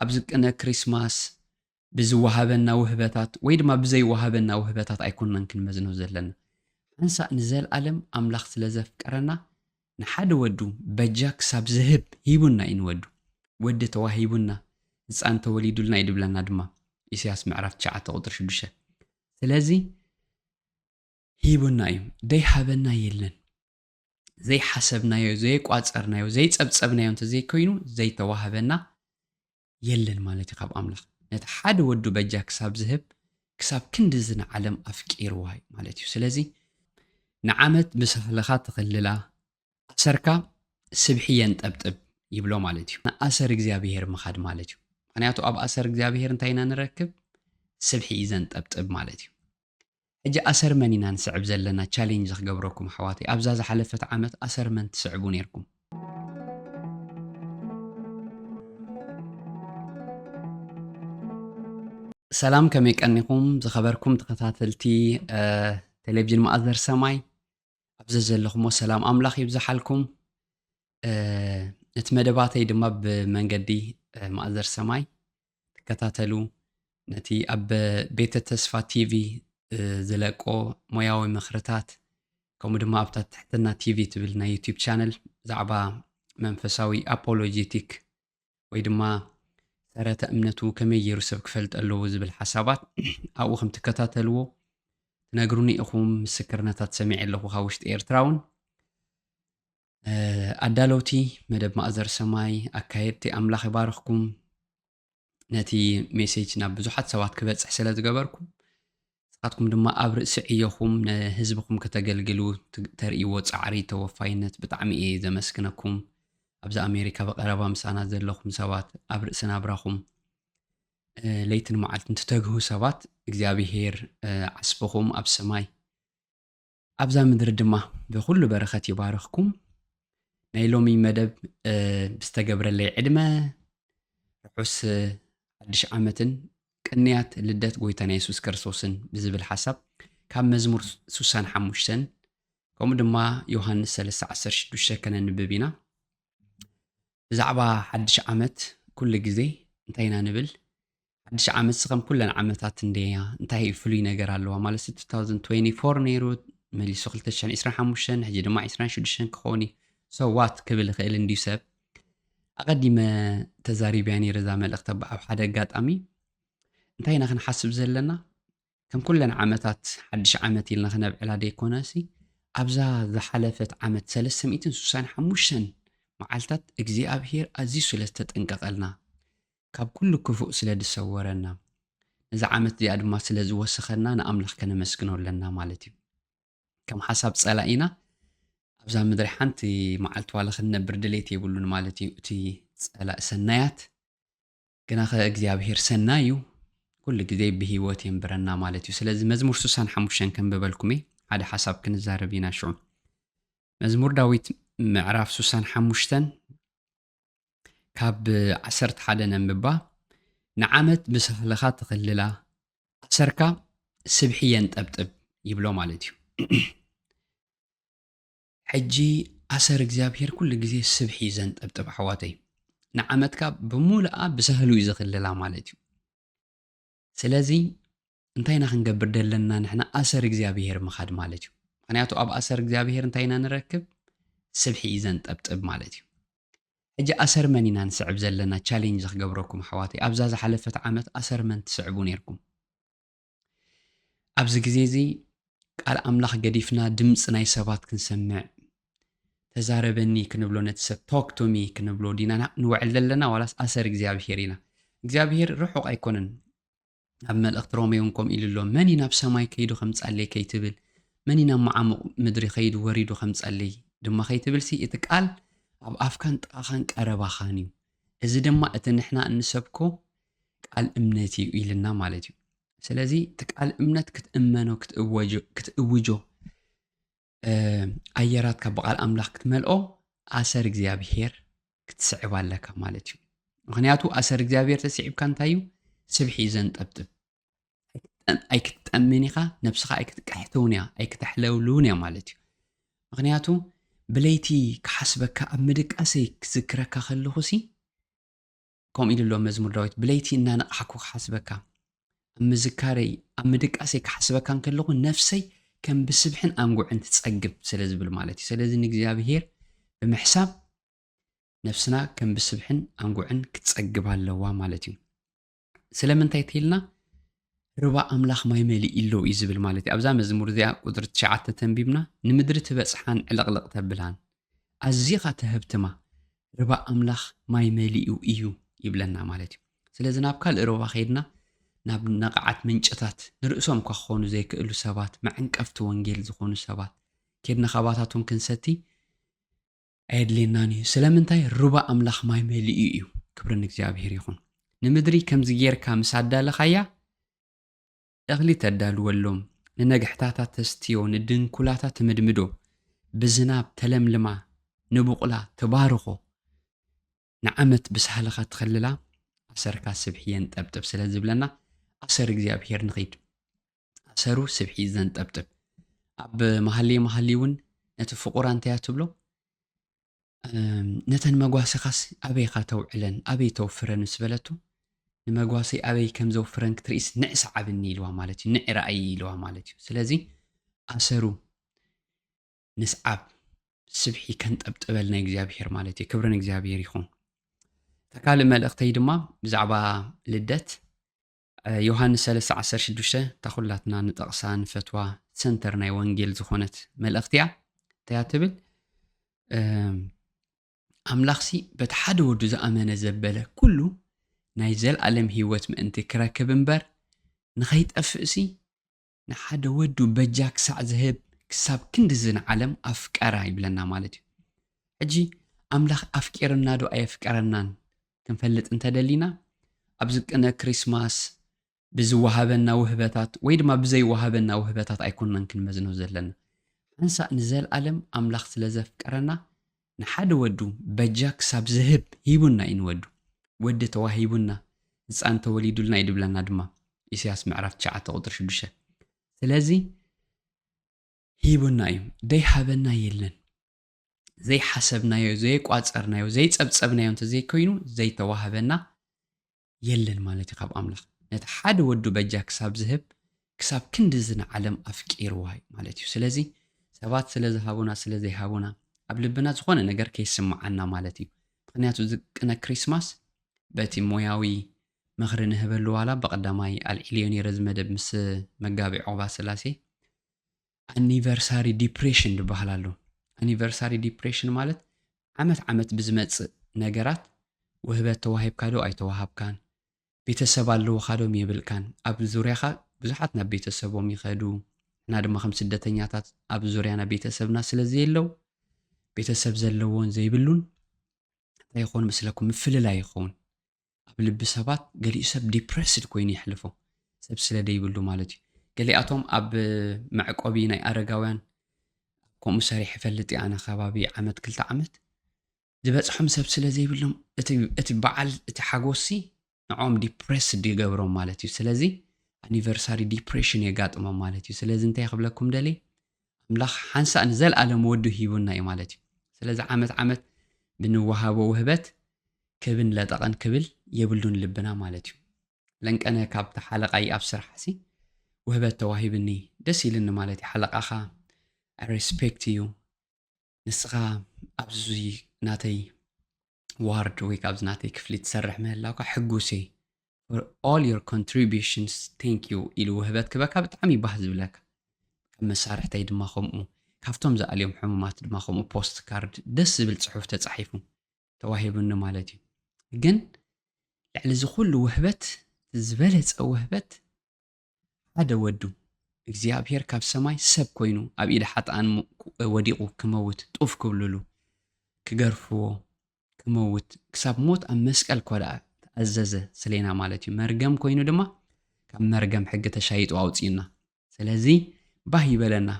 ኣብዚ ቅነ ክሪስማስ ብዝወሃበና ውህበታት ወይ ድማ ብዘይወሃበና ውህበታት ኣይኮንናን ክንመዝኖ ዘለና። ሓንሳእ ንዘልኣለም ኣምላኽ ስለ ዘፍቀረና ንሓደ ወዱ በጃ ክሳብ ዝህብ ሂቡና እዩ ንወዱ። ወዲ ተዋሂቡና፣ ህጻን ተወሊዱልና እዩ ድብለና ድማ ኢሳያስ ምዕራፍ ትሽዓተ ቁጽሪ ሽዱሽተ። ስለዚ ሂቡና እዩ። ደይሃበና የለን። ዘይሓሰብናዮ፣ ዘይቋጸርናዮ፣ ዘይጸብጸብናዮ እንተዘይኮይኑ ዘይተዋህበና የለን ማለት እዩ ካብ ኣምላኽ። ነቲ ሓደ ወዱ በጃ ክሳብ ዝህብ ክሳብ ክንድዚ ንዓለም ኣፍቂርዋ እዩ ማለት እዩ። ስለዚ ንዓመት ብሳህልኻ ትኽልላ ኣሰርካ ስብሒ የንጠብጥብ ይብሎ ማለት እዩ። ንኣሰር እግዚኣብሄር ምኻድ ማለት እዩ። ምክንያቱ ኣብ ኣሰር እግዚኣብሄር እንታይ ኢና ንረክብ? ስብሒ እዩ ዘንጠብጥብ ማለት እዩ። ሕጂ ኣሰርመን ኢና ንስዕብ ዘለና ቻሌንጅ ክገብረኩም ኣሕዋተይ ኣብዛ ዝሓለፈት ዓመት ኣሰርመን ትስዕቡ ኔርኩም ሰላም ከመይ ቀኒኹም ዝኸበርኩም ተኸታተልቲ ቴሌቭዥን ማእዘር ሰማይ ኣብ ዘዘለኹሞ ሰላም ኣምላኽ ይብዝሓልኩም እቲ መደባተይ ድማ ብመንገዲ ማእዘር ሰማይ ትከታተሉ ነቲ ኣብ ቤተ ተስፋ ቲቪ ዝለቆ ሞያዊ ምኽርታት ከምኡ ድማ ኣብታ ትሕትና ቲቪ ትብል ናይ ዩቲብ ቻነል ብዛዕባ መንፈሳዊ ኣፖሎጂቲክ ወይ ድማ ሰረተ እምነቱ ከመይ ገይሩ ሰብ ክፈልጥ ኣለዎ ዝብል ሓሳባት ኣብኡ ከም ትከታተልዎ ትነግሩኒ ኢኹም ምስክርነታት ሰሚዐ ኣለኹ ካብ ውሽጢ ኤርትራ እውን ኣዳለውቲ መደብ ማእዘር ሰማይ ኣካየድቲ ኣምላኽ ይባርኽኩም ነቲ ሜሴጅ ናብ ብዙሓት ሰባት ክበፅሕ ስለ ዝገበርኩም ንስኻትኩም ድማ ኣብ ርእሲ ዕዮኹም ንህዝብኹም ከተገልግሉ ተርእይዎ ጻዕሪ ተወፋይነት ብጣዕሚ እየ ዘመስግነኩም። ኣብዚ ኣሜሪካ ብቐረባ ምሳና ዘለኹም ሰባት ኣብ ርእሲ ናብራኹም ለይትን መዓልትን ትተግሁ ሰባት እግዚኣብሄር ዓስብኹም ኣብ ሰማይ ኣብዛ ምድሪ ድማ ብኩሉ በረኸት ይባርኽኩም። ናይ ሎሚ መደብ ብዝተገብረለይ ዕድመ ርሑስ ሓድሽ ዓመትን ቅንያት ልደት ጎይታና የሱስ ክርስቶስን ብዝብል ሓሳብ ካብ መዝሙር ሱሳን ሓሙሽተን ከምኡ ድማ ዮሃንስ 316 ከነንብብ ኢና ብዛዕባ ሓድሽ ዓመት ኩሉ ግዜ እንታይ ኢና ንብል ሓድሽ ዓመትሲ ከም ኩለን ዓመታት እንድያ እንታይ እዩ ፍሉይ ነገር ኣለዋ ማለት 2024 ነይሩ መሊሱ 225 ሕጂ ድማ 26 ክኸውን እዩ ሶ ዋት ክብል ይኽእል እንድዩ ሰብ ኣቐዲመ ተዛሪብያ ነይረ እዛ መልእኽቲ ኣብ ሓደ ኣጋጣሚ እንታይ ኢና ክንሓስብ ዘለና ከም ኩለን ዓመታት ሓድሽ ዓመት ኢልና ክነብዕላ ደይኮነሲ ኣብዛ ዝሓለፈት ዓመት ሰለስተ ሚእትን ሱሳን ሓሙሽተን መዓልታት እግዚኣብሄር ኣዝዩ ስለ ዝተጠንቀቐልና ካብ ኩሉ ክፉእ ስለ ዝሰወረና ነዛ ዓመት እዚኣ ድማ ስለ ዝወሰኸና ንኣምላኽ ከነመስግኖ ኣለና ማለት እዩ ከም ሓሳብ ጸላኢና ኣብዛ ምድሪ ሓንቲ መዓልቲ ዋላ ክንነብር ድሌት የብሉን ማለት እዩ እቲ ጸላእ ሰናያት ግናኸ እግዚኣብሄር ሰናይ እዩ፣ ኩሉ ግዜ ብህይወት የንብረና ማለት እዩ። ስለዚ መዝሙር ስሳን ሓሙሽተን ከንብበልኩም እየ፣ ሓደ ሓሳብ ክንዛረብ ኢና ሽዑ። መዝሙር ዳዊት ምዕራፍ ስሳን ሓሙሽተን ካብ ዓሰርተ ሓደ ነንብባ ንዓመት ብሳህልኻ ትኽልላ ኣሰርካ ስብሒ የንጠብጥብ ይብሎ ማለት እዩ። ሕጂ ኣሰር እግዚኣብሄር ኩሉ ግዜ ስብሒ እዩ ዘንጠብጥብ ኣሕዋተይ ንዓመትካ ብምሉኣ ብሳህሉ እዩ ዘኽልላ ማለት እዩ ስለዚ እንታይ ኢና ክንገብር ዘለና ንሕና ኣሰር እግዚኣብሄር ምኻድ ማለት እዩ ምክንያቱ ኣብ ኣሰር እግዚኣብሄር እንታይ ኢና ንረክብ ስብሒ እዩ ዘንጠብጥብ ማለት እዩ ሕጂ ኣሰር መን ኢና ንስዕብ ዘለና ቻሌንጅ ክገብረኩም ኣሕዋተይ ኣብዛ ዝሓለፈት ዓመት ኣሰር መን ትስዕቡ ነርኩም ኣብዚ ግዜ እዚ ቃል ኣምላኽ ገዲፍና ድምፂ ናይ ሰባት ክንሰምዕ ተዛረበኒ ክንብሎ ነቲ ሰብ ቶክ ቶሚ ክንብሎ ዲና ንውዕል ዘለና ዋላስ ኣሰር እግዚኣብሄር ኢና እግዚኣብሄር ርሑቕ ኣይኮነን ኣብ መልእኽቲ ሮሜ እውን ከምኡ ኢሉ ኣሎ መን እዩ ናብ ሰማይ ከይዱ ከም ጸለይ ከይትብል መን እዩ ናብ መዓሙቕ ምድሪ ከይዱ ወሪዱ ከም ጸለይ ድማ ከይትብል ሲ እቲ ቃል ኣብ ኣፍካን ጥቓኻን ቀረባኻን እዩ እዚ ድማ እቲ ንሕና እንሰብኮ ቃል እምነት እዩ ኢልና ማለት እዩ ስለዚ እቲ ቃል እምነት ክትእመኖ ክትእውጆ ኣየራትካ ብቓል ኣምላኽ ክትመልኦ ኣሰር እግዚኣብሄር ክትስዕብ ኣለካ ማለት እዩ ምክንያቱ ኣሰር እግዚኣብሄር ተስዒብካ እንታይ እዩ ስብሒ እዩ ዘንጠብጥብ ኣይክትጠምን ኢኻ ነብስኻ ኣይክትቀሕተውን እያ ኣይክተሕለውልውን እያ ማለት እዩ ምክንያቱ ብለይቲ ክሓስበካ ኣብ ምድቃሰይ ክዝክረካ ከለኹሲ ከምኡ ኢሉ ኣሎ መዝሙር ዳዊት ብለይቲ እናነቕሓኩ ክሓስበካ ኣብ ምዝካረይ ኣብ ምድቃሰይ ክሓስበካ እንከለኹ ነፍሰይ ከም ብስብሕን ኣንጉዕን ትጸግብ ስለ ዝብል ማለት እዩ ስለዚ ንእግዚኣብሄር ብምሕሳብ ነፍስና ከም ብስብሕን ኣንጉዕን ክትጸግብ ኣለዋ ማለት እዩ ስለምንታይ ተይልና ርባ ኣምላኽ ማይ መሊኡ ኣሎ እዩ ዝብል ማለት እዩ። ኣብዛ መዝሙር እዚኣ ቁጽሪ ትሽዓተ ተንቢብና ንምድሪ ትበጽሓን ዕልቕልቕ ተብላን ኣዚኻ ተሀብትማ ርባ ኣምላኽ ማይ መሊኡ እዩ ይብለና ማለት እዩ። ስለዚ ናብ ካልእ ርባ ከይድና ናብ ነቓዓት ምንጭታት ንርእሶም እኳ ክኾኑ ዘይክእሉ ሰባት መዐንቀፍቲ ወንጌል ዝኾኑ ሰባት ኬድና ካባታቶም ክንሰቲ ኣየድልየናን እዩ ስለምንታይ ሩባ ኣምላኽ ማይ መሊኡ እዩ ክብሪ ንእግዚኣብሔር ይኹን ንምድሪ ከምዚ ጌርካ ምስ ኣዳለኻያ እኽሊ ተዳልወሎም ንነግሕታታ ተስትዮ ንድንኩላታ ትምድምዶ ብዝናብ ተለምልማ ንቡቕላ ትባርኾ ንዓመት ብሳህልኻ ትኸልላ ኣሰርካ ስብሒ የንጠብጥብ ስለ ዝብለና ኣሰር እግዚኣብሄር ንኺድ ኣሰሩ ስብሒ ዘንጠብጥብ ኣብ መሃልየ መሃሊ እውን ነቲ ፍቑራ እንተያ ትብሎ ነተን መጓሰኻስ ኣበይኻ ተውዕለን ኣበይ ተውፍረን ምስ በለቱ ንመጓሰይ ኣበይ ከም ዘውፍረን ክትርኢስ ንዕ ሰዓብኒ ኢልዋ ማለት እዩ ንዕ ረኣይ ኢልዋ ማለት እዩ ስለዚ ኣሰሩ ንስዓብ ስብሒ ከንጠብጥበል ናይ እግዚኣብሄር ማለት እዩ ክብርን እግዚኣብሄር ይኹን እታ ካልእ መልእኽተይ ድማ ብዛዕባ ልደት ዮሃንስ 316 እታ ኩላትና ንጠቕሳ ንፈትዋ ሰንተር ናይ ወንጌል ዝኾነት መልእኽቲ እያ እንታያ ትብል ኣምላኽሲ በቲ ሓደ ወዱ ዝኣመነ ዘበለ ኩሉ ናይ ዘለኣለም ህይወት ምእንቲ ክረክብ እምበር ንኸይጠፍእሲ ንሓደ ወዱ በጃ ክሳዕ ዝህብ ክሳብ ክንድዚ ንዓለም ኣፍቀራ ይብለና ማለት እዩ። ሕጂ ኣምላኽ ኣፍቂርና ዶ ኣየፍቀረናን ክንፈልጥ እንተ ደሊና ኣብዚ ቅነ ክሪስማስ ብዝወሃበና ውህበታት ወይ ድማ ብዘይወሃበና ውህበታት ኣይኮንናን ክንመዝኖ ዘለና። ሓንሳእ ንዘልኣለም ኣምላኽ ስለ ዘፍቀረና ንሓደ ወዱ በጃ ክሳብ ዝህብ ሂቡና እዩ ንወዱ። ወዲ ተዋሂቡና ህጻን ተወሊዱልና እዩ ድብለና ድማ ኢሰያስ ምዕራፍ ትሽዓተ ቁጽሪ ሽዱሽተ ስለዚ ሂቡና እዩ ደይሃበና የለን ዘይሓሰብናዮ ዘይቋጸርናዮ ዘይጸብጸብናዮ እንተዘይኮይኑ ዘይተዋህበና የለን ማለት እዩ ካብ ኣምላኽ ነቲ ሓደ ወዱ በጃ ክሳብ ዝህብ ክሳብ ክንድዚ ንዓለም ኣፍቂርዋ እዩ ማለት እዩ ስለዚ ሰባት ስለ ዝሃቡና ስለ ዘይሃቡና ኣብ ልብና ዝኾነ ነገር ከይስምዓና ማለት እዩ ምክንያቱ እዚ ቅነ ክሪስማስ በቲ ሞያዊ ምኽሪ ንህበሉ ዋላ ብቐዳማይ ኣልዒልዮ ነይረ እዚ መደብ ምስ መጋቢ ዑቕባ ስላሴ ኣኒቨርሳሪ ዲፕሬሽን ዝበሃል ኣሎ። ኣኒቨርሳሪ ዲፕሬሽን ማለት ዓመት ዓመት ብዝመጽእ ነገራት ውህበት ተዋሂብካ ዶ ኣይተዋሃብካን፣ ቤተሰብ ኣለዉኻ ዶም የብልካን፣ ኣብ ዙርያኻ ብዙሓት ናብ ቤተሰቦም ይኸዱ፣ ንሕና ድማ ከም ስደተኛታት ኣብ ዙርያና ቤተሰብና ስለ ዘየለው ቤተሰብ ዘለዎን ዘይብሉን እንታይ ይኸውን መስለኩም ምፍልላይ ይኸውን። ኣብ ልቢ ሰባት ገሊኡ ሰብ ዲፕረስድ ኮይኑ የሕልፎ ሰብ ስለ ደይብሉ ማለት እዩ ገሊኣቶም ኣብ መዕቆቢ ናይ ኣረጋውያን ከምኡ ሰሪሕ ይፈልጥ እየ ኣነ ከባቢ ዓመት ክልተ ዓመት ዝበፅሖም ሰብ ስለ ዘይብሎም እቲ በዓል እቲ ሓጎሲ ንዕኦም ዲፕሬስድ ይገብሮም ማለት እዩ ስለዚ ኣኒቨርሳሪ ዲፕሬሽን የጋጥሞም ማለት እዩ ስለዚ እንታይ ክብለኩም ደልየ ኣምላኽ ሓንሳእ ንዘለኣለም ወዱ ሂቡና እዩ ማለት እዩ። ስለዚ ዓመት ዓመት ብንወሃቦ ውህበት ክብን ለጠቐን ክብል የብሉን ልብና ማለት እዩ። ለንቀነ ካብቲ ሓለቓይ ኣብ ስራሕሲ ውህበት ተዋሂብኒ ደስ ኢልኒ ማለት እዩ ሓለቓኻ I respect you ንስኻ ኣብዚ ናተይ ዋርድ ወይ ካብዚ ናተይ ክፍሊ ትሰርሕ ምህላውካ ሕጉስ እየ for all your contributions thank you ኢሉ ውህበት ክበካ ብጣዕሚ ባህ ዝብለካ ካብ መሳርሕተይ ድማ ከምኡ ካብቶም ዝኣልዮም ሕሙማት ድማ ከምኡ ፖስት ካርድ ደስ ዝብል ፅሑፍ ተፃሒፉ ተዋሂቡኒ ማለት እዩ ግን ልዕሊ እዚ ኩሉ ውህበት ዝበለፀ ውህበት ሓደ ወዱ እግዚኣብሔር ካብ ሰማይ ሰብ ኮይኑ ኣብ ኢድ ሓጥኣን ወዲቁ ክመውት ጡፍ ክብልሉ ክገርፍዎ ክመውት ክሳብ ሞት ኣብ መስቀል ኮደኣ ተኣዘዘ ስሌና ማለት እዩ መርገም ኮይኑ ድማ ካብ መርገም ሕጊ ተሻይጡ ኣውፅዩና ስለዚ ባህ ይበለና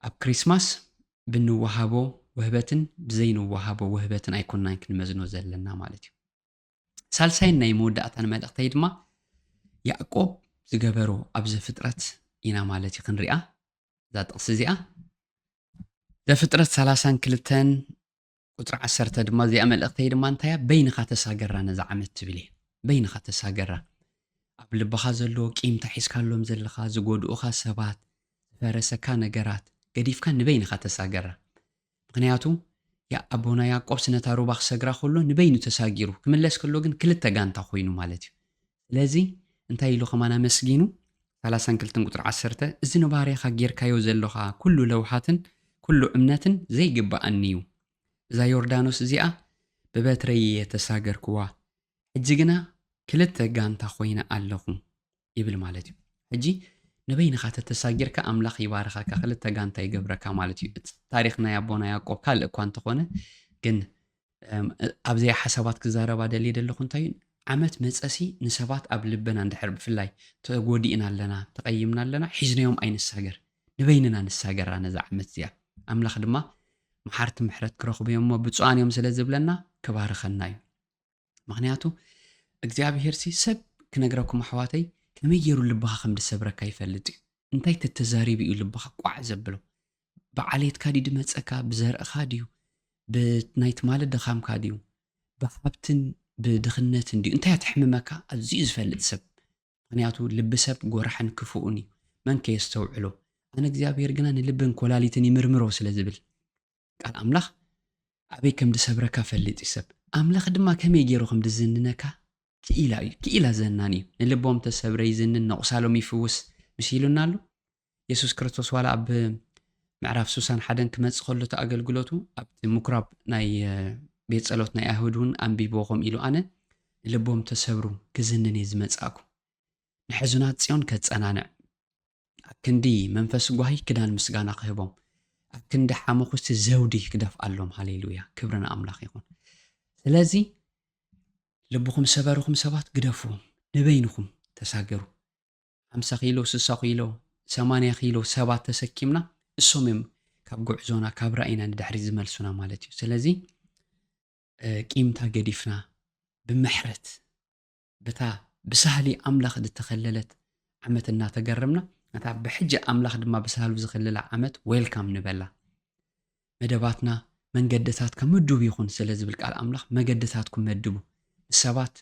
ኣብ ክሪስማስ ብንወሃቦ ውህበትን ብዘይንወሃቦ ውህበትን ኣይኮናን ክንመዝኖ ዘለና ማለት እዩ ሳልሳይን ናይ መወዳእታን መልእኽተይ ድማ ያእቆብ ዝገበሮ ኣብ ዘፍጥረት ኢና ማለት እዩ ክንሪኣ እዛ ጥቕሲ እዚኣ ዘፍጥረት ሰላሳን ክልተን ቁፅሪ ዓሰርተ ድማ እዚኣ መልእኽተይ ድማ እንታያ በይንኻ ተሳገራ ነዛ ዓመት ትብል እየ በይንኻ ተሳገራ ኣብ ልብኻ ዘሎ ቂምታ ሒዝካሎም ዘለኻ ዝጎድኡኻ ሰባት ዝፈረሰካ ነገራት ገዲፍካ ንበይንኻ ተሳገራ ምኽንያቱ ያኣቦና ያቆብስ ነታ ሩባ ክሰግራ ከሎ ንበይኑ ተሳጊሩ ክምለስ ከሎ ግን ክልተ ጋንታ ኮይኑ ማለት እዩ ስለዚ እንታይ ኢሉ ከማን ኣመስጊኑ ሰላሳን ክልተን ቁጽሪ ዓሰርተ እዚ ንባርያኻ ጌርካዮ ዘሎኻ ኩሉ ለውሃትን ኩሉ እምነትን ዘይግብኣኒ እዩ እዛ ዮርዳኖስ እዚኣ ብበትረይ እየ ተሳገርክዋ ሕጂ ግና ክልተ ጋንታ ኮይነ ኣለኹ ይብል ማለት እዩ ሕጂ ንበይንኻ ተተሳጊርካ ኣምላኽ ይባርኸካ ክልተ ጋንታ ይገብረካ ማለት እዩ እቲ ታሪክ ናይ ኣቦና ያዕቆብ ካልእ እኳ እንተኾነ ግን ኣብዘያ ሓሳባት ክዛረባ ደልየ ደለኹ እንታይ እዩ ዓመት መፀሲ ንሰባት ኣብ ልበና እንድሕር ብፍላይ ተጎዲእና ኣለና ተቐይምና ኣለና ሒዝናዮም ኣይንሳገር ንበይንና ንሳገራ ነዛ ዓመት እዚኣ ኣምላኽ ድማ መሓርቲ ምሕረት ክረኽቡ እዮም እሞ ብፁዓን እዮም ስለ ዝብለና ክባርኸና እዩ ምክንያቱ እግዚኣብሄር ሲ ሰብ ክነግረኩም ኣሕዋተይ ከመይ ገይሩ ልብኻ ከም ድሰብረካ ይፈልጥ እዩ እንታይ ተተዛሪቡ እዩ ልብኻ ቋዕ ዘብሎ ብዓሌትካ ድዩ ድመፀካ ብዘርእኻ ድዩ ብናይ ትማሊ ድኻምካ ድዩ ብሃብትን ብድኽነትን ድዩ እንታይ ኣትሕምመካ ኣዝዩ ዝፈልጥ ሰብ ምክንያቱ ልቢ ሰብ ጎራሕን ክፉኡን እዩ መን ከየስተውዕሎ ኣነ እግዚኣብሔር ግና ንልብን ኮላሊትን ይምርምሮ ስለ ዝብል ቃል ኣምላኽ ኣበይ ከም ድሰብረካ ፈልጥ እዩ ሰብ ኣምላኽ ድማ ከመይ ገይሩ ከም ድዝንነካ ክኢላ እዩ ክኢላ ዘናን እዩ ንልቦም ተሰብረ ይዝንን ነቑሳሎም ይፍውስ ምስ ኢሉና ኣሎ የሱስ ክርስቶስ ዋላ ኣብ ምዕራፍ ሱሳን ሓደን ክመጽእ ከሎ እቲ ኣገልግሎቱ ኣብቲ ምኩራብ ናይ ቤት ጸሎት ናይ ኣይሁድ እውን ኣንቢብዎ ከም ኢሉ ኣነ ልቦም ተሰብሩ ክዝንን እየ ዝመጻእኩ ንሕዙናት ጽዮን ከጸናንዕ ኣክንዲ መንፈስ ጓሂ ክዳን ምስጋና ክህቦም ኣክንዲ ሓመኹስቲ ዘውዲ ክደፍኣሎም ሃሌሉያ ክብሪ ንኣምላኽ ይኹን ስለዚ ልብኹም ሰበርኹም ሰባት ግደፍዎም ንበይንኹም ተሳገሩ ሓምሳ ኪሎ ስሳ ኪሎ ሰማንያ ኪሎ ሰባት ተሰኪምና እሶም እዮም ካብ ጉዕዞና ካብ ራእይና ንድሕሪ ዝመልሱና ማለት እዩ ስለዚ ቂምታ ገዲፍና ብምሕረት በታ ብሳህሊ ኣምላኽ ዝተኸለለት ዓመት እናተገረምና ነታ ብሕጂ ኣምላኽ ድማ ብሳህሉ ዝኸለላ ዓመት ዌልካም ንበላ። መደባትና መንገድታትካ ምዱብ ይኹን ስለ ዝብል ቃል ኣምላኽ መገድታትኩም መድቡ። ምስ ሰባት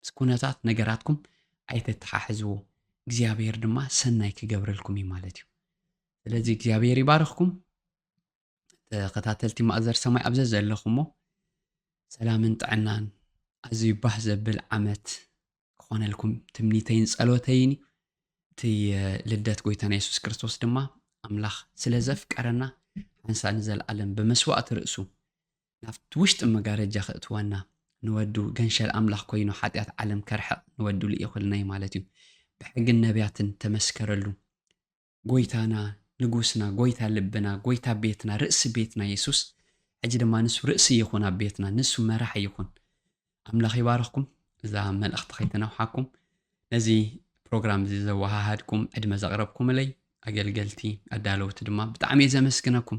ምስ ኩነታት ነገራትኩም ኣይተተሓሕዝዎ። እግዚኣብሔር ድማ ሰናይ ክገብረልኩም እዩ ማለት እዩ። ስለዚ እግዚኣብሔር ይባርኽኩም። ተኸታተልቲ ማእዘር ሰማይ ኣብ ዘዘለኹሞ ሰላምን ጥዕናን ኣዝዩ ባህ ዘብል ዓመት ክኾነልኩም ትምኒተይን ጸሎተይን እዩ እቲ ልደት ጎይታና የሱስ ክርስቶስ ድማ ኣምላኽ ስለ ዘፍቀረና ሓንሳ ንዘለኣለም ብመስዋእቲ ርእሱ ናብቲ ውሽጢ መጋረጃ ክእትወና ንወዱ ገንሸል ኣምላኽ ኮይኑ ሓጢኣት ዓለም ከርሕቕ ንወዱ ልኢኹልና እዩ ማለት እዩ ብሕግን ነቢያትን ተመስከረሉ ጎይታና ንጉስና ጎይታ ልብና ጎይታ ቤትና ርእሲ ቤትና የሱስ ሕጂ ድማ ንሱ ርእሲ ይኹን ኣብ ቤትና ንሱ መራሒ ይኹን ኣምላኽ ይባርኽኩም እዛ መልእኽቲ ከይተነውሓኩም ነዚ ፕሮግራም እዚ ዘወሃሃድኩም ዕድመ ዘቕረብኩምለይ ኣገልገልቲ ኣዳለውቲ ድማ ብጣዕሚ እየ ዘመስግነኩም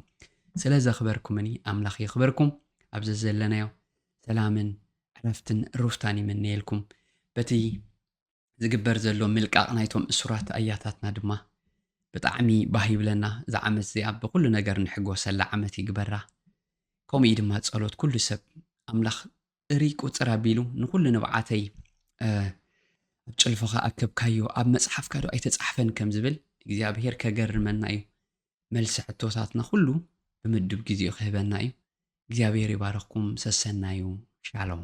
ስለ ዘኽበርኩምኒ ኣምላኽ የኽበርኩም ኣብዚ ዘለናዮ ሰላምን ዕረፍትን ሩፍታን ይምነየልኩም በቲ ዝግበር ዘሎ ምልቃቕ ናይቶም እሱራት ኣያታትና ድማ ብጣዕሚ ባህ ይብለና እዛ ዓመት እዚኣ ብኹሉ ነገር ንሕጎሰላ ዓመት ይግበራ ከምኡ ድማ ጸሎት ኩሉ ሰብ ኣምላኽ እርይ ቁጽር ኣቢሉ ንኹሉ ንብዓተይ ኣብ ጭልፎኻ ኣከብካዮ ኣብ መጽሓፍካ ዶ ኣይተጻሕፈን ከም ዝብል እግዚኣብሄር ከገርመና እዩ መልሲ ሕቶታትና ኩሉ ብምድብ ግዜኡ ክህበና እዩ እግዚኣብሄር ይባረኽኩም ሰሰናዩ ሻሎም